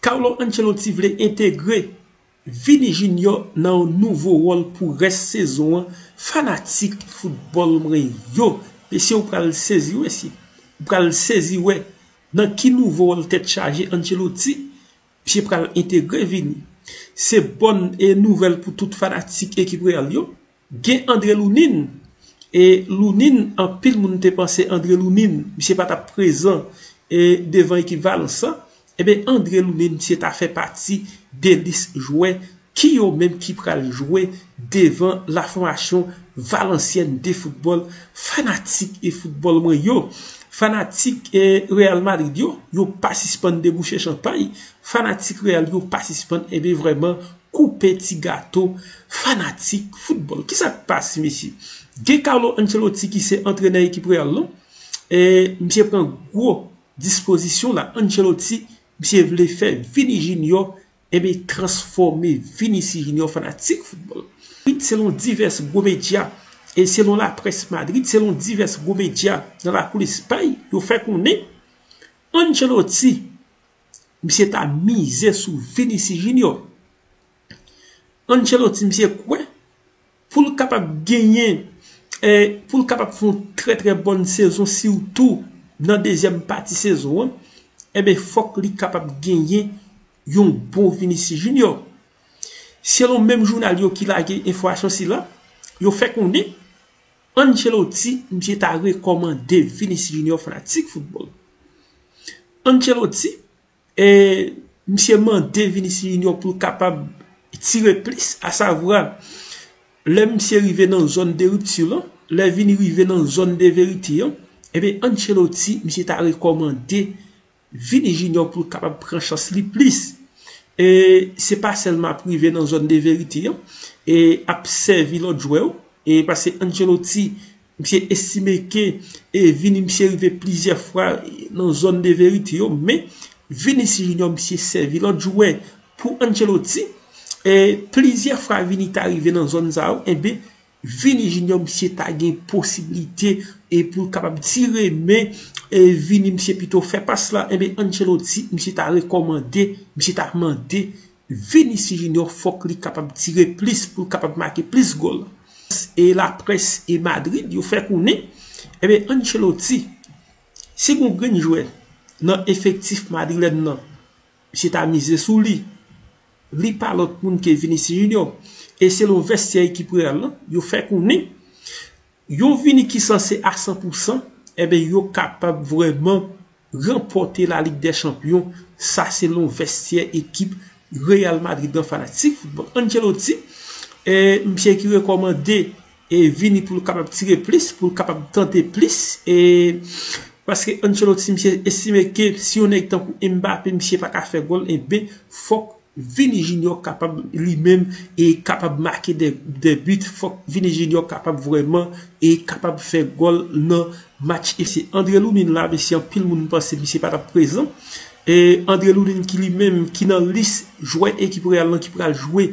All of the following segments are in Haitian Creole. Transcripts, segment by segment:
Carlo Ancelotti vle entegre Vini Junior nan yon nouvo wòl pou rès sezon an fanatik foutbòl mwen yo mesye ou pral sezi wè si ou pral sezi wè nan ki nouvo wòl tèt chaje Ancelotti misye pral entegre Vini se bòn nouvèl pou tout fanatik ekip Real yo. Gen Andre Lounine e Lounine anpil moun te panse Andre Lounine misye pa tap prezan e devan ekip Valence lan enben Andre Lounine misye ta fè pati de lis jwè ki yo menm ki pral jwe devan la fòmasyon Valenciennes de football fanatik e football mwen yo fanatik e Real Madrid yo yo pa sispann debouche chanpay fanatik Real yo pa sispann enben vrèman koupe ti gato fanatik football kisa k pase mesye gen Carlo Ancelotti ki se antrenè ekip Real lan e misye pran gwo dispozisyon la Ancelotti misye vle fè Vini Junior ebe transfòme Vinicius Junior fanatik football selon divès gwo medya e selon la près Madrid selon divès gwo medya nan lakou Lespay yo fè konnen Ancelotti. Misye ta mize sou Vinicius Junior. Ancelotti misye kwè pou l kapab genyen, pou l kapab fè yon trè trè bòn sezon sitou nan dezyèm pati sezon an, enben fòk li kapab genyen yon bon Vinicius Junior. Selon menm jounal yo ki lage enfòmasyon sila, yo fè konnen, Ancelotti misye ta rekomande Vinicius Junior fanatik football Ancelotti misye mande Vinicius Junior poul kapab tire plis a savwa lè misye rive nan zone de rupture lan lè Vini rive nan zone de verite an Ancelotti misye ta rekomande Vini Junior pou l kapab pran chans li plis. E se pa sèlman ap rive nan zòn de verite an e ap sèvi lòt jwè yo. E pase Ancelotti, misye estime ke e Vini misye rive plizyè fwa nan zòn de verite yo. Men, Vinicius Junior misye sèvi lòt jwè pou Ancelotti. E plizyè fwa Vini ta rive nan zòn sa yo, enben, Vini Junior misye ta gen posibilite e pou l kapab tire men e Vini misye pito fè pas la enben Ancelotti misye ta rekòmande misye ta mande Vinicius Junior fòk li kapab tire plis pou l kapab make plis gòl e laprès e Madrid yo fè konnen enben Ancelotti si gon grenn jwè nan efektif madrilèn nan Misye ta mize sou li. Li pa lòt moun ke Vinicius Junior. E selon vèstyè ekip Real lan, yo fè konnen yon Vini ki sanse a 100 pou 100, enben yo kapab vrèman ranpòte La Ligue des Champions. Sa selon vèstyè ekip Real Madrid lan fanatik foutbòl. Ancelotti, misye ki rekòmande e vini pou l kapab tire plis, pou l kapab tante plis e paske Ancelotti misye estime ke si yon nèg tankou Mbappé misye pa ka fè gòl enben fòk Vini Junior kapab li menm e kapab make de but, fòk Vini Junior kapab vrèman e kapab fè gòl nan match e se Andre Loulin la mesye anpil moun panse misye pa t ap prezan e Andre Loulin ki li menm ki nan lis jwè ekip Real lan ki pral jwe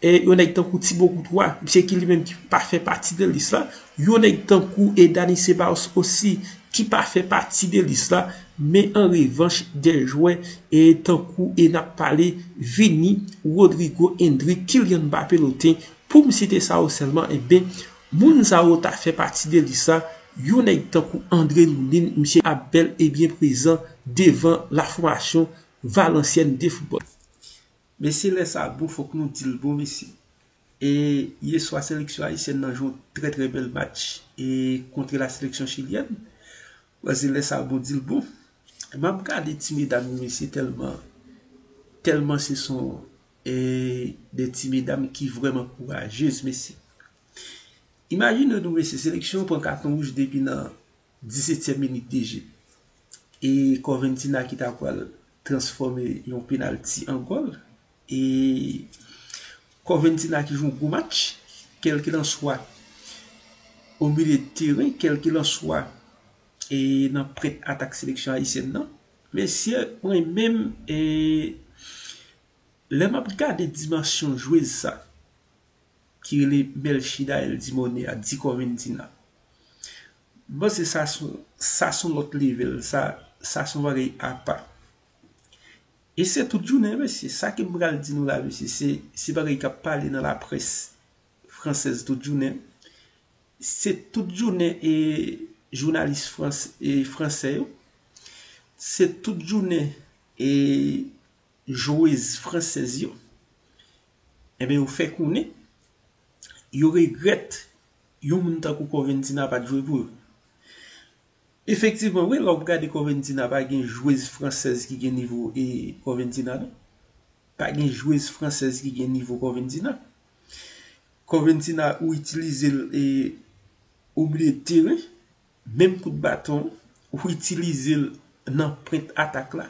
E yon nèg tankou Tibo Koutwa, misye ki li menm ki pa fè pati de lis la, yon nèg tankou e Dany Ceballos osi ki pa fè pati de lis la, men an revanch de jwè e tankou e nap pale Vini, Rodrygo, Endrick, Kylian Mbappé loten, poum site sa yo sèlman enben moun sa yo ta fè pati de lis la, yon nèg tankou André Loulin misye ap bèl e byen prezan devan la fòmasyon Valenciennes de football. Mesye lè sa bon fòk nou dil bon mesye e yeswa seleksyon ayisyèn nan jwe yon trè trè bèl match e kontre la seleksyon chilyèn banze lè sa bon dil bon map gade ti medam yo mesye tèlman tèlman se son e de ti medam ki vrèman kourajez mesye imajine nou mesye seleksyon pran katon wouj depi nan Disetyèm minit deje. E Corventina ki ta pral transfòme yon penalti an gòl. E Corventina ki jwe yon gwo match. Kèlkilanswa o milye de teren. Kèlkilanswa e nan prent atak seleksyon ayisyèn nan. Mesye mwen menm e lè m ap gade dimansyon jwez sa. ki rele Melchida El Dimone a di Corventina m panse sa son sa son lòt level sa sa son bagay apa e se tout jounen mesye sa ke m pral di nou la mesye se se bagay k ap pale nan laprès fransèz tout jounen se tout jounen e jounalis frans e fransè yo se tout jounen e jwez fransèz yo enben yo fè konnen yo regrèt yon moun tankou Corventina pat jwe pou yo. Efektivman wi lè w ap gade Corventina pa gen jwez fransèz ki gen nivo Corventina non. Pa gen jwez fransèz ki gen nivo Corventina. Corventina ou itilize l e ou bliye tire. Menm kout baton ou itilize l nan pwent atak la.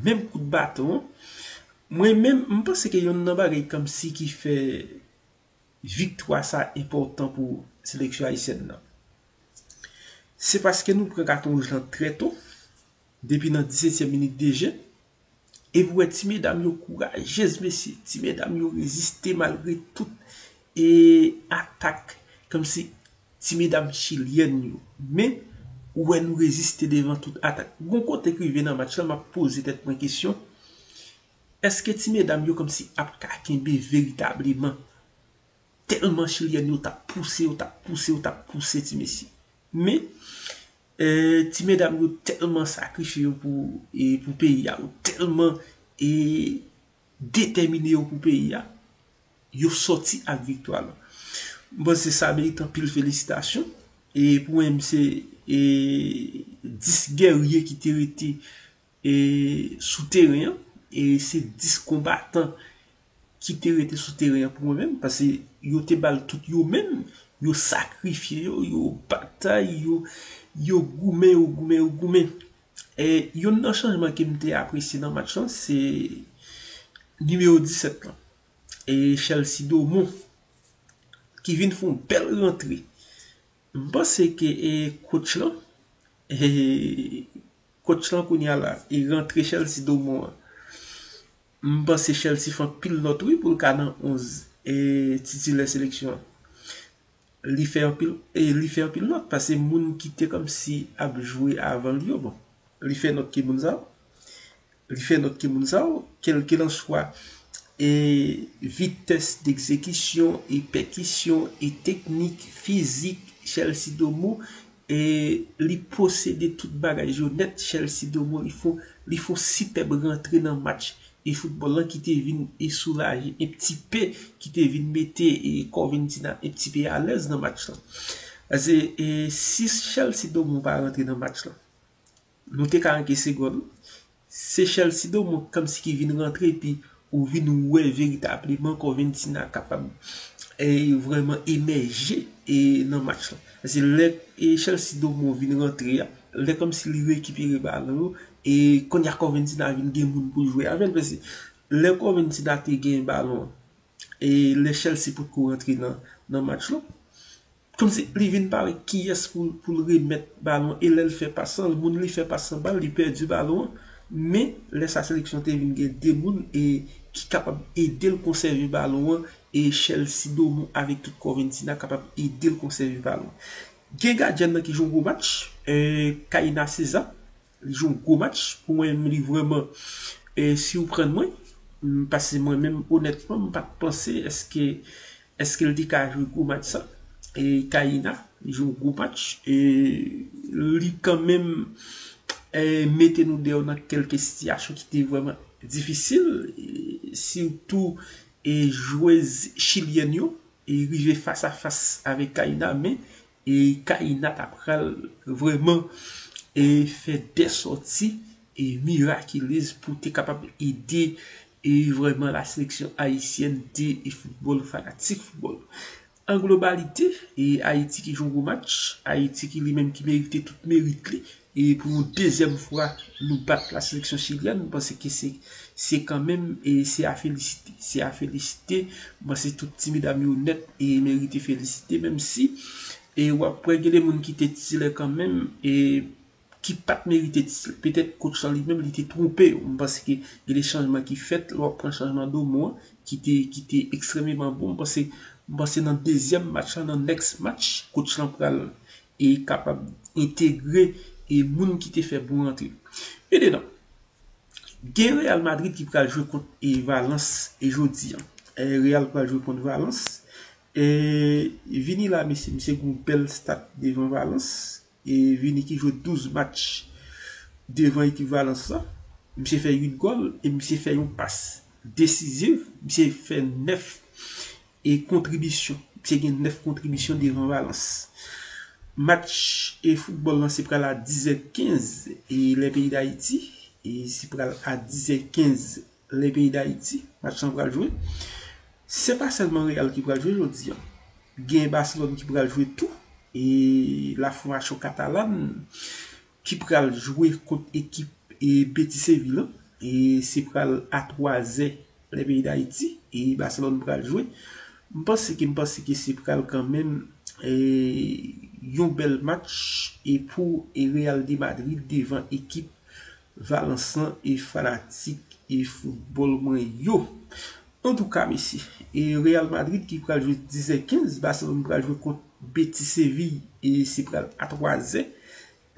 Menm kout baton an. Mwen menm, m panse ke yonn nan bagay kòmsi ki fè viktwa sa enpòtan pou seleksyon ayisyèn nan. Se paske nou pran katon wouj lan trè to, depi nan disetyèm minit de je. Epi wè ti medam yo kourajez mesye ti medam yo reziste malgre tout e atak kòmsi ti medam chilyèn yo men ou wè nou reziste devan tout atak gon kote k rive nan match lan map poze tèt mwen kesyon èske ti medam yo kòmsi ap ka kenbe veritableman tèlman chilyèn yo tap pouse yo tap pouse yo tap pouse ti mesye men Ti medam yo tèlman sakrifye yo pou peyi a, yo tèlman detèmine yo pou peyi a, yo sòti ak viktwa lan. M panse sa merite anpil felisitasyon. Pou mwen menm se 10 gèrye ki te rete E sou teren an, e se 10 konbatan ki te rete sou teren an pou mwen menm, pase yo te bal tout yo menm, yo sakrifye yo, yo batay, yo yo goumen, yo goumen, yo goumen. E yonn nan chanjman ke m te apresye nan match lan, se nimewo 17 lan, e Chelsea Doumou, ki vin fon bèl rantre M panse ke e coach lan e coach lan kounya la e rantre Chelsea Daumont an m panse Chelsea fè anpil nòt wi poul ka nan 11 e titilè seleksyon an li fè anpil e li fè anpil nòt pase moun ki te kòmsi ap jwe avan l yo bon. li fè nòt ki moun sa yo, li fè nòt ki moun sa yo, kèlkilanswa e vitès dekzekisyon e pèkisyon e teknik fizik Chelsea Domo e li posede tout bagay yo nèt Chelsea Domo li fon li fon sipèb rantre nan match e foutbòl lan ki te vin e soulaje e pti pe ki te vin mete e Corventina e pti pe alèz nan match lan. Pase e si Chelsea Domo pa rantre nan match lan Nou te ka ankese gòl wi. Se Chelsea Domo kòmsi ki vin rantre epi ou vin wè veritableman Corventina kapab vrèman emèje nan match lan. Paske lè Chelsea Domo vin rantre a, lè kòmsi li rekipere balon yo e kounya Corventina vin gen moun pou l jwe avè l. Paske lè Corventina te gen balon e lè Chelsea potko rantre nan match lan. Kòmsi li vin pa wè kiyès pou l remèt balon an e lè l fè pas lan, moun li fè pas lan ba l, li pèdi balon an. Men, lè sa seleksyon an te vin gen 2 moun e ki kapab ede l konsève balon an e Chelsea Doumou avèk tout kò Ventina kapab ede l konsève balon an. Gen gadyèn nan ki jwe yon gwo match, Kayna César, Li jwe yon gwo match pou mwen menm li vrèman sirprann mwen pase mwen menm onètman m pat panse eske eske l te ka jwe gwo match sa e Kaïna li jwe yon gwo match e li kan menm mete nou deyò nan kelke sitiyasyon ki te vrèman difisil sitou e jwez chilyèn yo e rive fas a fas avèk Kaïna men e Kaïna ta pral vrèman e fè de sòti e mirakilez pou te kapab ede e vrèman la seleksyon ayisyèn de e foutbòl fanatik foutbòl an globalite e Ayiti ki jwe yon gwo match Ayiti ki li menm ki merite tout merit li. E pou yon dezyèm fwa nou bat la seleksyon chilyèn, m panse ke se se kanmenm e se a felisite. Se a felisite, m panse tout ti medam yo nèt e merite felisite menm si e w ap wè gen de moun ki te titilè kanmenm e ki pa t merite titilè. Petèt kotch lan li menm li te twonpe yo. M panse ke gen de chanjman ki fèt, lè w ap pran chanjman Domo an ki te ki te ekstrememan bon. M panse m panse nan dezyèm match lan, nan next match, kotch lan pral E kapab entegre e moun ki te fè bon rantre. Men dedan. Gen Real Madrid ki pral jwe kont e Valence e jodi an. E Real pral jwe kont Valence. E Vini la mesye. Misye gen yon bèl stat devan Valence. E Vini ki jwe 12 match devan ekip Valence la. Misye fè 8 gòl e misye fè yon pas desiziv. Misye fè 9. e kontribisyon. Li te gen 9 kontribisyon devan Valans. Match e foutbòl lan se pral a 10 è 15 e lè peyi Dayiti e se pral a 10 è 15 lè peyi Dayiti match lan pral jwe. Se pa sèlman Real ki pral jwe jodi an. Gen Baselòn ki pral jwe tou e la fòmasyon Katalan. ki pral jwe kont ekip Beti Sevi lan e se pral a 3 zè lè peyi Dayiti e Baselòn pral jwe. M panse ke m panse ke se pral kanmenm yon bèl match e pou Real de Madrid devan ekip Valans lan e fanatik e foutbòl mwen yo. Antouka mesye, Real Madrid ki pral jwe 10 zè 15, Baselòn pral jwe kont Beti Seviy e se pral a 3 zè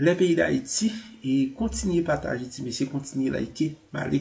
lè peyi dayiti e kontinye pataje ti mesye kontinye like male.